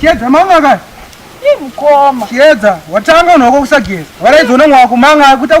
chiedza mama ka imukoma chiedza watanga unoko kusageza waraidzoona mwakumanga akuita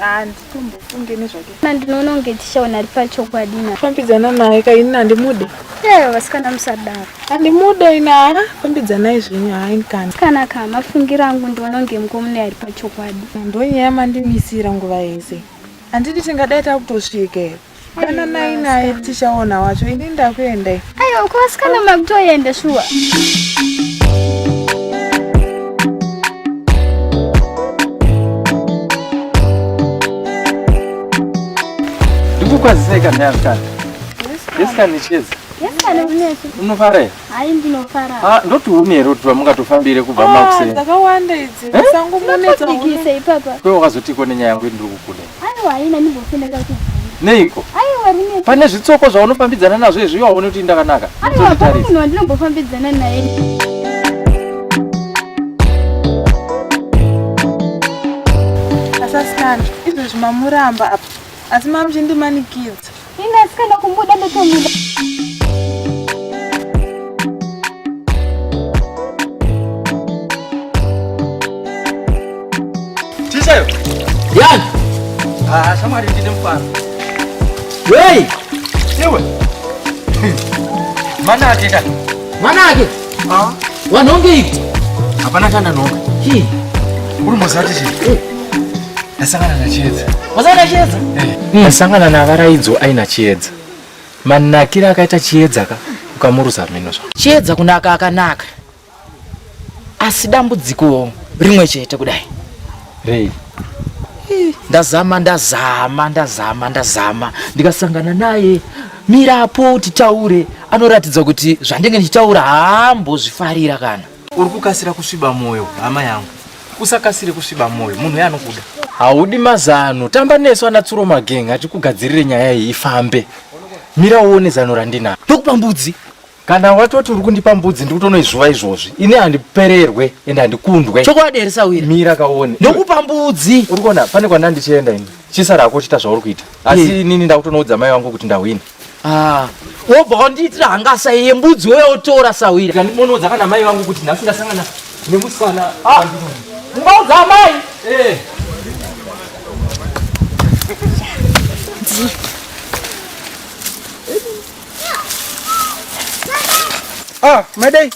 handitombofunge nezvake na ndinoona kunge tichaona ari pachokwadi na fambidzana naye ka ini handimude ee vasikana musadaro handimude ini haa fambidzanai zvenyu haini kana kana ka mafungiro angu ndinoona kunge mukomune ari pachokwadi ndonyaya mandimisira nguva yese handiti tingadai takutosvika here Dananai naye tichaona wacho ini ndakuenda i. Ayo kwasikana makutoenda shuwa. Ndikukwazisei kana yasikana. Yasikana icheza. Yasikana unetso. Unofara here? Hayi ndinofara. Ah ndoti umi here kuti vamungatofambire kubva ah, makuseni. Ah dzakawanda idzi. Eh? Sangu munetsa. Ndikise ipapa. Kwewe wakazotiko nenyaya yangu ndiri kukuda. Aiwa haina ndimbofendeka kubvunza. Neiko? Aiwa rine. Pane zvitsoko zvaunofambidzana nazvo izvi iwawo unoti ndakanaka. Aiwa pane munhu wandinombofambidzana naye. Asasikana, izvozvi mamuramba apa. Asi mamuchindimanikidza. Ini asi kana kumuda ndotomuda. Tichayo. Yan. Ah, shamwari ndine mfana. Hey! Iwe. Manake ka. Manake. Ah. Wanonge iko. Hapana kana nonga. Hi. Uri mozati chi? Eh. Ndasangana na Chiedza. Wasangana Chiedza? Eh. Hmm. Ndasangana na Varaidzo aina Chiedza. Manakira akaita Chiedza ka ukamuruza mino zva. Chiedza kunaka akanaka. Asi dambudziko rimwe chete kudai. Rei. Ndazama ndazama ndazama ndazama ndikasangana naye mirapo titaure anoratidza kuti zvandenge ndichitaura hambo zvifarira kana uri kukasira kusviba mwoyo hama yangu usakasire kusviba mwoyo munhu uye anokuda haudi mazano tamba nesu ana tsuro mageng atikugadzirire nyaya iyi ifambe mira uone zano randinaro ndokupa mbudzi kana watoti uri kundipa mbudzi ndiri kutonoizvuva izvozvi ini handipererwe ende handikundwe chokwadi here sawira mira kaone ndokupa mbudzi uri kuona pane kwanda ndichienda ini chisara hako uchiita zvauri kuita asi yeah. nini ndakutonoudza mai wangu kuti ndahwina ah. wobva ah. wandiitira hangasa iye mbudzi uye otora sawira kandimonoudza kana mai vangu kuti nhasi ndasangana nemusikana ah. ungaudza ah. amai eh. Ah, madai.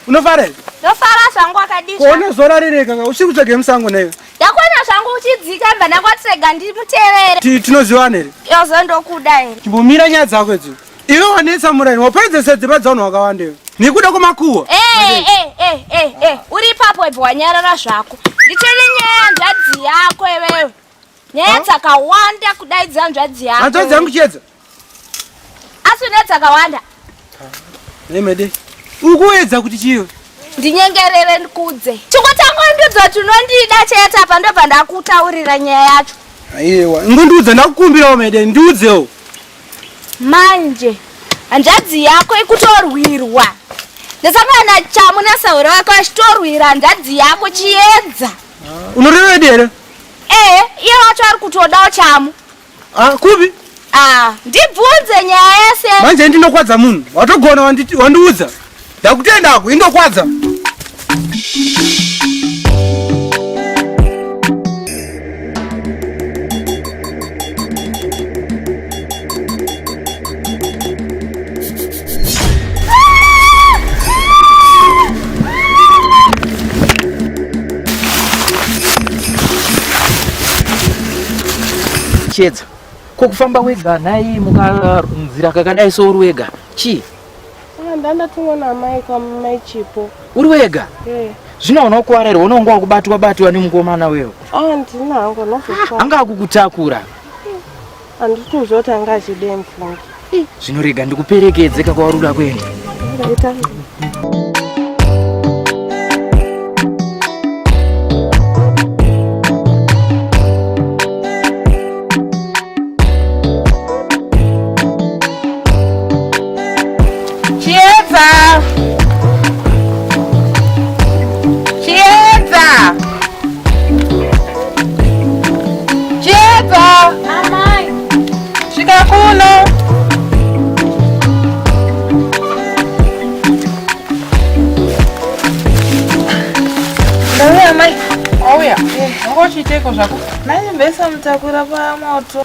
Unofara here? Ndofara zvangu wakadii? Kuona zuva rarereka ka usiku tsvage musango newe. Ndakuona zvangu uchidzika mba ndakwatsega ndimutevere. Ti tinoziwana here? Yozo ndokuda here? Chimbomira nyaya dzako idzo. Iwe wanetsa muraini waparidza sadzimba dzaunhu wakawanda iwe. Nekuda kwemakuwa. Eh eh eh eh eh. Uri ipapo ibho wanyarara zvako. Ndichene nyaya nzvadzi yako iwewe. Nyaya dzakawanda kudaidza nzvadzi yako. Nzvadzi yangu chedza. asi une dzakawanda nemede ukuedza kuti chiyo ndinyengerere ndikudze chikutangondudza kuti unondida chete apa ndobva ndakutaurira nyaya yacho aiwa ngondiudza ndakukumbirawo mede ndiudzewo manje hanzvadzi yako ikutorwirwa ndasangana na chamu nasauro wako achitorwira hanzvadzi yako chiedza unorevedi here ee iye wacho ari kutodawo chamu Ah, kupi? Ah, ndibvunze nyaya yese. Manje ndinokwadza munhu. Watogona wanditi wandiudza. Ndakutenda ako indokwadza. chiedza ko kufamba wega nhai mukanzira kakadai so uri wega chii ndandatumwa namai kwamai chipo uri wega eh. zvino unokuwarerwa unonga wakubatwa batwa nemukomana wewo ah, ndina hangu ah, anga akukutakura Handisi kuziva kuti anga achidei mufungi. Zvino rega ndikuperekedze kakwauri kuda kuenda. Chiedza. Chiedza. Chiedza. Amai. Svika kuno. Ndauya amai. Auya. Ngochiiteko zvako. Nai mbesa mutakura pamoto.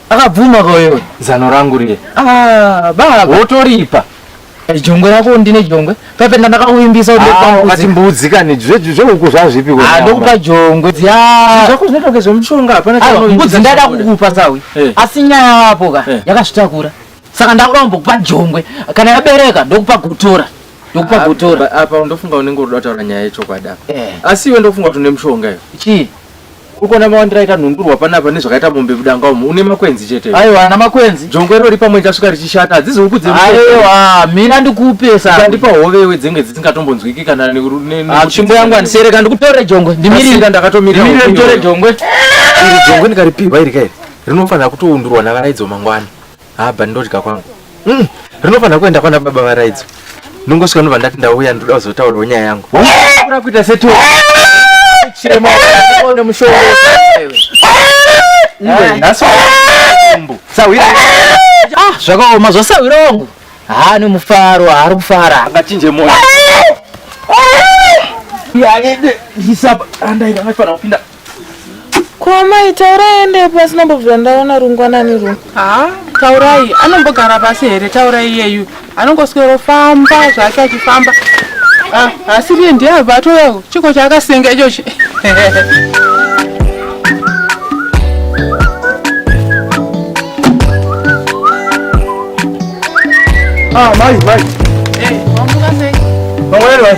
Akabvuma ka wewe zano rangu riye. Ah, baba. Wotoripa. Eh, jongwe rako ndine jongwe. Papenda ndakakuvimbisa kuti ah, kwa kuti mbudzi kani zveju zvehuku zvazvipi kwa. Ah, ndokupa jongwe. Ya. Zvako zvinotoke zvemuchonga hapana ah, chano. Mbudzi ndada kukupa sawi. Eh. Asi nyaya yapo ka eh. yakasvitakura. Saka ndakuramba kukupa jongwe. Kana yabereka ndokupa gutora. Ndokupa gutora. Apa ndofunga unenge uroda kutaura nyaya yechokwadi apa. Asi iwe ndofunga kuti une mushonga iwe. Chii? ukuona mawandira aita nhundurwa panapa nezvakaita mombe mudanga umu une makwenzi chete aiwa ana makwenzi jongwe rori pamwe chasvika richishata hadzizi huku dzeaiwa mina ndikupesa ndandipa hovewe dzenge dzisingatombonzwiki kana ah, tsvimbo yangu andisereka ndikutore jongwe ndimirira ndakatomirira nditore jongwe iri jongwe ndikaripihwa iri kairi rinofanira kutoundurwa navaraidzo mangwana haa but ndodya kwangu mm. rinofanira kuenda kwana baba varaidzo ndongosvika ndobva ndati ndauya ndoda kuzotaurawo nyaya yangu ura kuita seto chirema one mushonga iwe nhasi mbu sahwira ah zvakaoma zvasahwira wangu haa nemufaro haari kufara angachinje moyo Yeah, yeah, yeah. He's up. And I don't know if I'm Ko amai taurai ende pasi nambobvira ndaona rungwanani rwo. Ha, taurai anombogara pasi here taurai iyeyu. Anongoswero famba zvake achifamba. Ah, asi riye ndiye abva atouya chiko chaakasenga ichochi. Ah, mai, mai. Eh, wamuka sei? Mangwanani mai.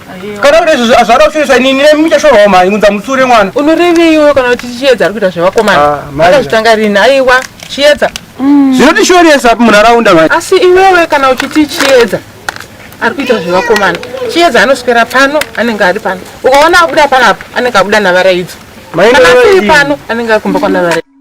kana kuti izvozvo hazvada kushoresa ini nine muchashorwawo mhai unza mutsure mwana unoreveiwo kana kuti chiedza ari kuita zvevakomana ah, akazvitanga rini aiwa chiedza mm. zvinotishoresa munharaunda mhai asi iwewe kana uchiti chiedza ari kuita zvevakomana chiedza anoswera pano anenge ari pano ukaona abuda panapo anenge abuda navaraidzo kana asiri pano anenge ari kumba kwanavara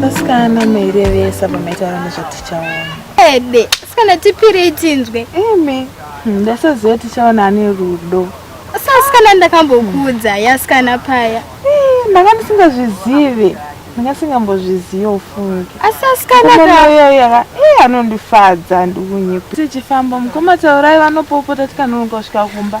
Vasikana mairevesa pamaitaura nezvatichaona. Ede, sikana tipirei tinzwe. Eme, hmm, ndasaziva tichaona ane rudo. Sasikana ndakambokuudza yasikana paya. Eh, ndanga ndisingazvizive. Ndanga singambozvizive ufunge. Asi asikana kayo yaka eh anondifadza ndikunyepa. Tichifamba mukoma taurai vanopopota tikanonoka kusvika kumba.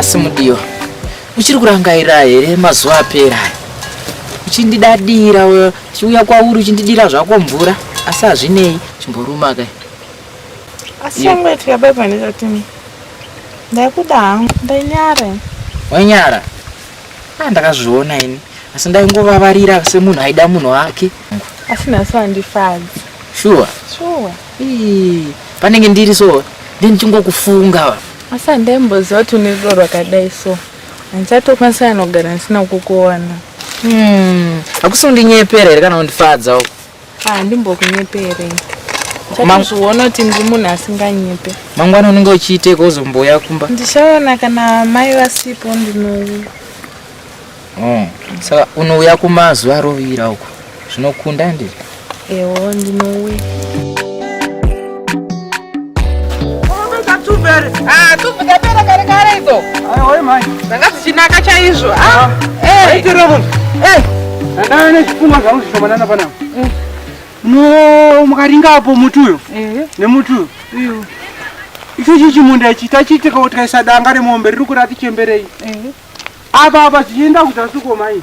asi mudiwa uchiri kurangaira here mazuva apera uchindidadira uchiuya kwauri uchindidira zvako mvura asi hazvinei chimboruma kai asi yangu yatika bye bye ndikati ndaikuda hangu ndainyara wainyara ah ndakazviona ini asi ndaingovavarira semunhu aida munhu wake asi nhasi wandifadza shuwa shuwa panenge ndiri so ndi ndichingokufunga asi handaimboziva kuti une rudo rwakadai so handichatokwanisa anogara ndisina kukuona hmm. hakusi undinyepera here kana undifadza handimbokunyepere chatozviona kuti ndiri munhu asinganyepe mangwana unenge uchiiteka uzomboya kumba ndichaona kana mai vasipo ndinouya oh, saka unouya kumba zuva rovira uko zvinokunda ndiri ewo ndinouya dzanga dzichinaka chaizvo ndandave nezvipfuma zvangu zvishomanana panapa no mukaringa apo muti uyo nemuti uyo icho chii chimunda ichi tachiitikawo tikaisa danga remombe riri kurati chemberei apa apa zvichienda kuzasi komai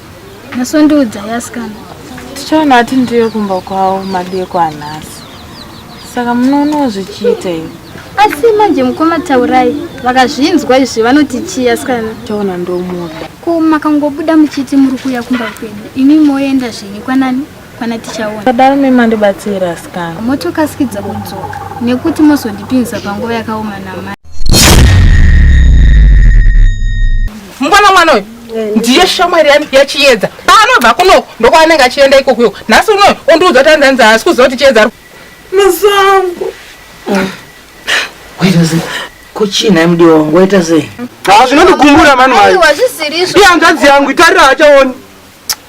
Masondiudza yasikana. Tichaona ati ndiyo kumba kwavo madeko anhasi. Saka munoonawo zvichiita iwe. Asi manje mukoma Taurai vakazvinzwa izvi vanoti chii asikana? Taona ndomuda. Ko makangobuda muchiti muri kuuya kumba kwedu. Imi moenda zvenyu kwanani? Kwana tichaona. Padaro mima ndibatsira asikana. Motokasikidza kudzoka nekuti mozondipinza panguva yakaoma namai. mukwana mwana uyu ndiye shamwari yami yachiyedza paanobva kuno ndokwaanenge achienda ikokuyo nhasi unoyo ondiudza kuti andanzi haasi kuziva kuti chiyedza masango kuchina mdi wangu waita sei ha zvinondigumbura mani maiiyanzvadzi yangu itarira hachaoni